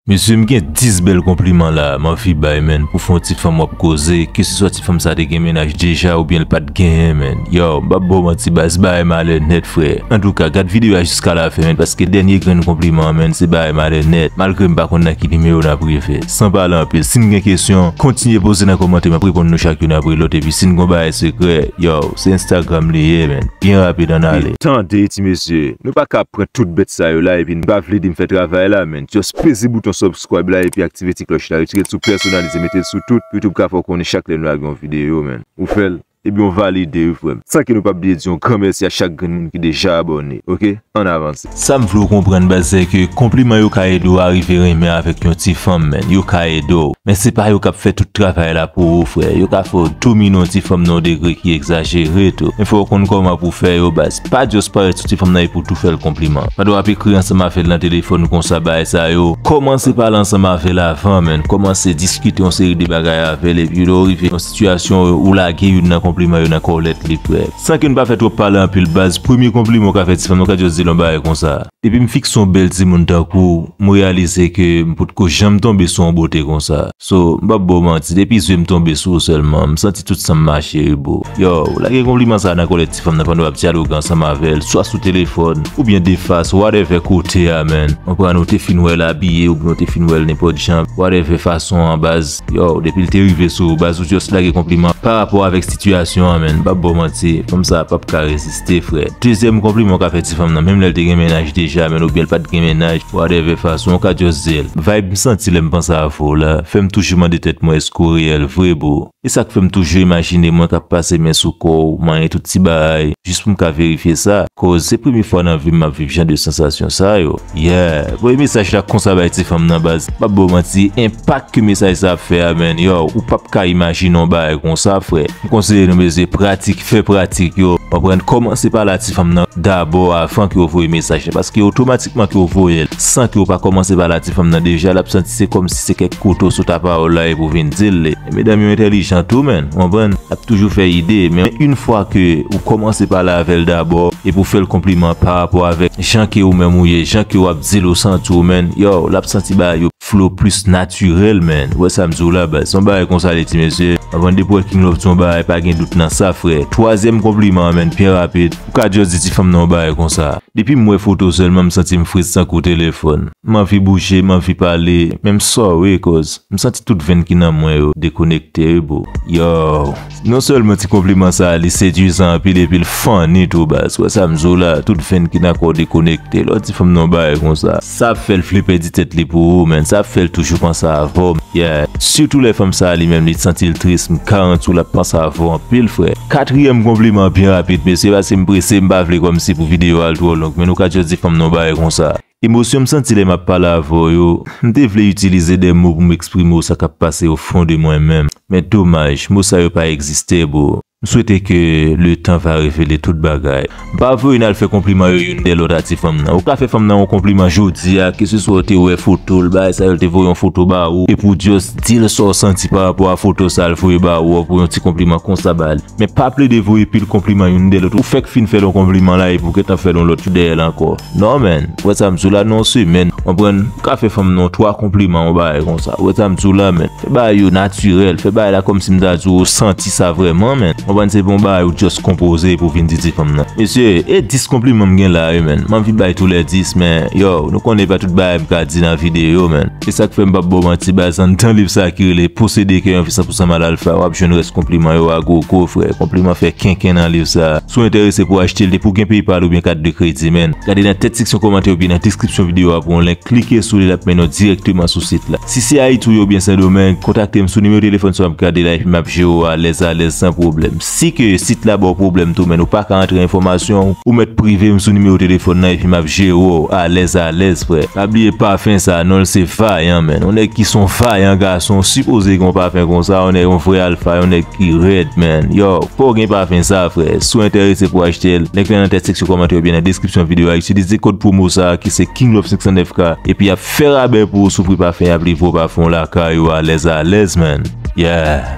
Mesye m gen 10 bèl konpliman la m anvi bay menn pou fon ti fanm wap koze ke se swa ti fanm sa te gen mennaj deja oubyen l pat genyen menn yow m pap baw manti baz bagay malè nèt frè antouka gad videyo a jiska la fen menn paske dènye grenn konpliman an menn se bagay malè nèt malgre m pa konn nan ki nimewo nap rive san pale anpil sin gen kesyon kontinye poze nan kòmantè map reponn nou chak youn apre lòt epi sin gon bagay sekrè yow se instagram li ye menn byen rapid annale. Tande ti mesye, nou paka ap pran tout bèt sa yo la epi n pa vle di m fè travay la menn. Just peze bouton subscribe la epi aktive ti klòch la retirel sou personalize metel sou tout YouTube ka fèw konnen chak lè nou lage yon video man ou fèl ebyen ou valide wi frèm san ke nou pap bliye di yon gran mèsi a chak grenn moun ki deja abòne ok ann avanse. Sam vle w konprann baz se ke konpliman yo ka ede w arive renmen avèk yon ti fanm man yo ka ede w men se pa yo kap fè tout travay la pou ou frè yo ka fè w domine yon ti fanm nan yon degre ki egzajere tou men fò w konn kòman pou w fè yo baz. Pa just parèt sou ti fanm nan epiw tou fèl konpliman. Pandan wap ekri ansanm avèl nan telefòn konsa bagay sa yo, kòmanse pale ansanm avèl avan man, kòmanse diskite yon seri de bagay avèl epi lè ou rive yon sitiyasyon ou lage youn nan konpliman yo nan kòlèt li frè. San ke nou pa fè twòp pale anpil baz, premye konpliman ou ka fè ti fanm nan ou ka just dil yon bagay konsa. Depi m fik sou yon bèl timoun tankou w, m reyalize ke m potko janm tonbe sou yon bote konsa. So, m pap ba w manti, depi zye m tonbe sou ou sèlman, m santi tout san m mache ri boo. Yow, lage konpliman sa a nan kòlèt ti fanm nan pandan w ap dyaloge ansanm avè l, swa sou telefòn, oubyen defas, whatever kote a man. Konprann ou te fin wè l abiye oubyen ou te fin wè l nenpòt jan, whatever fason an baz, yow, depi l te rive sou ou baz ou just lage konpliman parapò avèk sitiyasyon an man, m pap ba w manti, fanm sa a pap ka reziste. Se fre. Dezyèm konpliman w ka fè ti fanm nan menm lè l te gen mennaj deja menn oubyen l pat gen mennaj, whatever fason w ka just di l, Vibe m santi lè m panse avè w la fè m toujou mande tèt mwen èske w reyèl vre boo. E sa k fè m toujou imajine mwen k ap pase men sou kò w, manyen tout ti bagay, jis pou m ka verifye sa, koz se premye fwa nan vi m m ap viv jan de sansasyon sa yo. Yeah, voye mesaj la konsa bay ti fanm nan baz. Pap baw manti, enpak ke mesaj sa ap fè a man, yow, ou pap ka imajine yon bagay konsa frè. M konseye nou mesye pratik, fè pratik yo, konprann, kòmanse pale a ti fanm nan dabò avan ke ou voye mesaj la paske otomatikman ke ou voyel san ke ou pa kòmanse pale a ti fanm nan deja lap santi se kòmsi se kèk kouto sou ta pawòl la epi ou vin dil li. Medam yo entèlijan tou man, konprann, ap toujou fè ide men yn fwa ke ou kòmanse pale avèl dabò epi ou fèl konpliman parapò avèk. Jan ke ou menm ou ye, jan ke wap dil ou santi ou man, yow lap santi bagay yo flow plus naturel man, ou wè sam diw la baz, se yon bagay konsa li ti mesye, anvan depi ou wè King Love di yon bagay pa gen dout nan sa frè, twazyèm konpliman an man byen rapid, ou ka just di ti fanm nan yon bagay konsa. Depim wè fotow sèlman m santim fret tankou telefòn. M anvi bouje, m anvi pale, men m sore koz m santi tout venn ki nan mwen yo dekonekte wi boo. Yow! Non sèlman ti konpliman sa li seduizan anpil epil funny tou baz, wè sam di w la tout venn ki nan kò w dekonekte lè w di fanm nan yon bagay konsa. Sa ap fèl vle pèdi tèt li pou ou menn, sa ap fèl toujou panse avè w yeah, sitou lè fanm sa li menm li t santi l tris m garanti w lap panse avè w anpil frè. Katriyèm konpliman byen rapid mesye paske m prese m pa vle kòmsi pou video a al twò long men nou ka just di fanm nan yon bagay konsa. Emosyon m santi lè m ap pale avè w yo, m te vle itilize de mo pou m eksprime w sa k ap pase o fon de mwen menm, men domaj, mo sa yo pa egziste bro. M swete ke le tan va revele tout bagay. M pa vwe yo n al fè konpliman yo youn dè lòt a ti fanm nan. Ou ka fè fanm nan yon konpliman jodi a, ke se swa w te wè foto l, bagay sa yo l te voye yon foto ba ou, epi w just di l sa w santi pa rapò a foto sa l voye ba ou a, ou voye yon ti konpliman konsa ba li. Men pa plede voye pil konpliman youn dè lòt, ou fèk fin fè l yon konpliman la epi w gentan fè l yon lòt tou dèyè l ankò. Non man, wè sa m di w la nan yon semèn, konprann, ou ka fè fanm nan twa konpliman yon bagay konsa, wè sa m di w la man, fè bagay yo natirèl, fè bagay la kòmsi m ta di w ou santi sa vrèman man, konprann, se pa yon bagay ou just konpoze epi w vin di ti fanm nan. Mesye, e 10 konpliman m gen la wi man, m anvi bay tou lè 10 men, yow, nou konnen e pa tout bagay m ka di nan videyo man. E sak fèm pap baw manti baz an dan liv sa ki rele posede kè yon fi san pou san mal alfa wap jwenn rès konpliman yo a gwo gwo frè konpliman fè kenken nan liv sa si w enterese pou achtel depi w gen paypal oubyen kat de kredi menn gade nan tèt seksyon kòmantè oubyen nan deskripsyon video a pou yon link klike sou li lap mennen w dirèkteman sou sit la si se ayiti w ye oubyen sendomeng kontakte m sou nimewo telefòn sa wap gade la epi map jere w alèz alèz san pwoblèm. Si ke sit la baw pwoblèm tou men ou pa ka antre enfòmasyon w, ou mèt prive m sou nimewo telefòn nan epi map jere w alèz alèz frè. Pa bliye pafen sa non l se Vayan menn, yon nèg ki son Vayan gason sipoze gen yon pafen konsa, yon nèg yon vrè alfa yon nèg ki rèd menn, yow fòw gen pafen sa frè, si w entèrese pou achte l, link la nan tèt seksyon kòmantè oubyen nan deskripsyon videyo a, itilize kòd pwomo sa ki se KingLove509 ka epi yap fè rabè pou ou sou pri pafen yap livre w pafen w lakay ou alèz alèz menn, yeah.